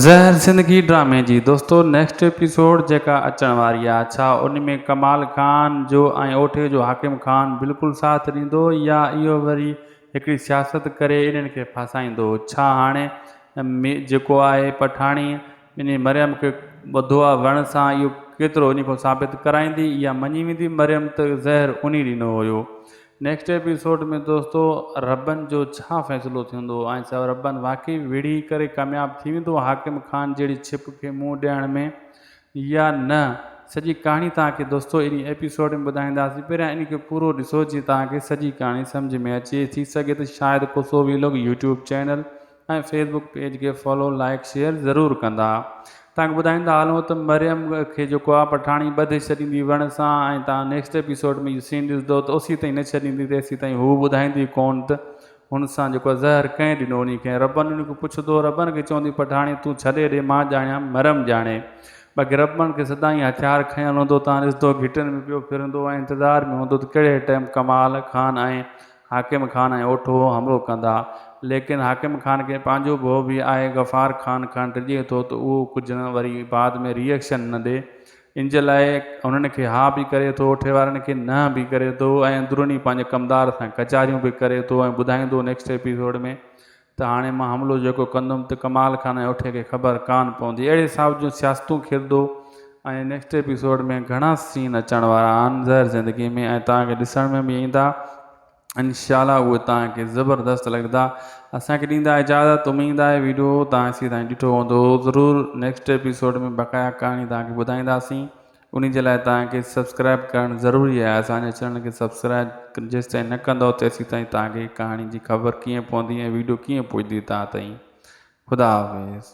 زهر زندگي ڊرامي جي دوستو نيڪسٽ ايپيسوڊ جيڪا اچڻ واري آ ڇا ان ۾ ڪمال خان جو ۽ اوٺي جو حاڪم خان بلڪل ساٿ ڏيندو يا اهو وري هڪڙي سياست ڪري انهن کي ڦاسائيندو ڇا هاڻي مي جيڪو آهي پٺاڻي انهي مريم کي ٻڌو آ وڻ سان اهو ڪيترو انهي کان ثابت ڪرائيندي يا مڃي ويندي مريم ته زهر انهي ڏنو هيو نيڪسٽ ايپيسوڊ ۾ دوستو ربن جو ڇا فيصلو ٿيندو ۽ ڇا ربن واقعي ويڙهي ڪري ڪامياب ٿي ويندو حاڪم خان جهڙي ڇپ کي منهن ڏيڻ ۾ يا نه سڄي ڪهاڻي توهان کي دوستو انهي ايپيسوڊ ۾ ٻڌائينداسين پهريان انهي کي پورو ڏسو جيئن توهان کي سڄي ڪهاڻي سمجهه ۾ اچي ٿي سگهي ته شايد ڪو سوويلوگ YouTube channel ۽ Facebook page کي فالو لائيڪ شيئر ضرور ڪندا تانڪ ٻڌائيندا هلون ته مريم کي جيڪو آ پٺاڻي ٻڌي ڇڏيندي وڻ سان ۽ تان نيڪسٽ ايپيسوڊ ۾ اهو سين ڏسدو ته اوسي تائين نه ڇڏيندي تيسي تائين هو ٻڌائيندي ڪون ته هن سان جيڪو آ زهر ڪنهن ڏنو انهي کي ربن انهي کي پڇدو ربن کي چوندي پٺاڻي تون ڇڏي ڏي مان ڄاڻيان مريم ڄاڻي باقي ربن کي سدائين هٿيار کنيل هوندو تان ڏسدو گهٽن ۾ پيو ڦرندو ۽ انتظار ۾ هوندو ته ڪهڙي ٽيم ڪمال خان ۽ حاڪم خان ۽ اوٺو همرو ڪندا. ليڪن حاڪم خان کي پنهنجو ڀؤ به آهي غفار خان کان ڊڄي ٿو ته اهو ڪجهه نه وري بعد ۾ ري ايڪشن نه ڏي. ان جي لاء هنن کي ها به ڪري ٿو اوٺي وارن کي نهن به ڪري ٿو ۽ اندروني پنهنجي ڪمدار سان ڪچهريون به ڪري ٿو ۽ ٻڌائيندو نيڪسٽ ايپيسوڊ ۾ ته هاڻي مان حملو جيڪو ڪندم ته ڪمال خان ۽ اٺي کي خبر ڪانه پوندي اهڙي حساب جون سياستون کردو ۽ نيڪسٽ ايپيسوڊ ۾ گهڻا سين اچڻ وارا آهن زهر زندگي ۾ ۽ توهان کي ڏسڻ ۾ به ايندا انشاء الله اهي توهان کي زبردست لڳندا اسان کي ڏيندا اجازت اميد آهي ويڊيو توهان سي تائين ڏٺو هوندو ضرور نيڪسٽ ايپيسوڊ ۾ بقايا ڪهاڻي توهان کي ٻڌائينداسين انهي جي لاء توهان کي سبسڪرائب ڪرڻ ضروري آهي اسان جي چينل کي سبسڪرائب جيستائين نه ڪندؤ تيسيتائين توهان کي ڪهاڻي جي خبر ڪيئن پوندي ۽ ويڊيو ڪيئن پڄدي توهان تائين خدا حافظ.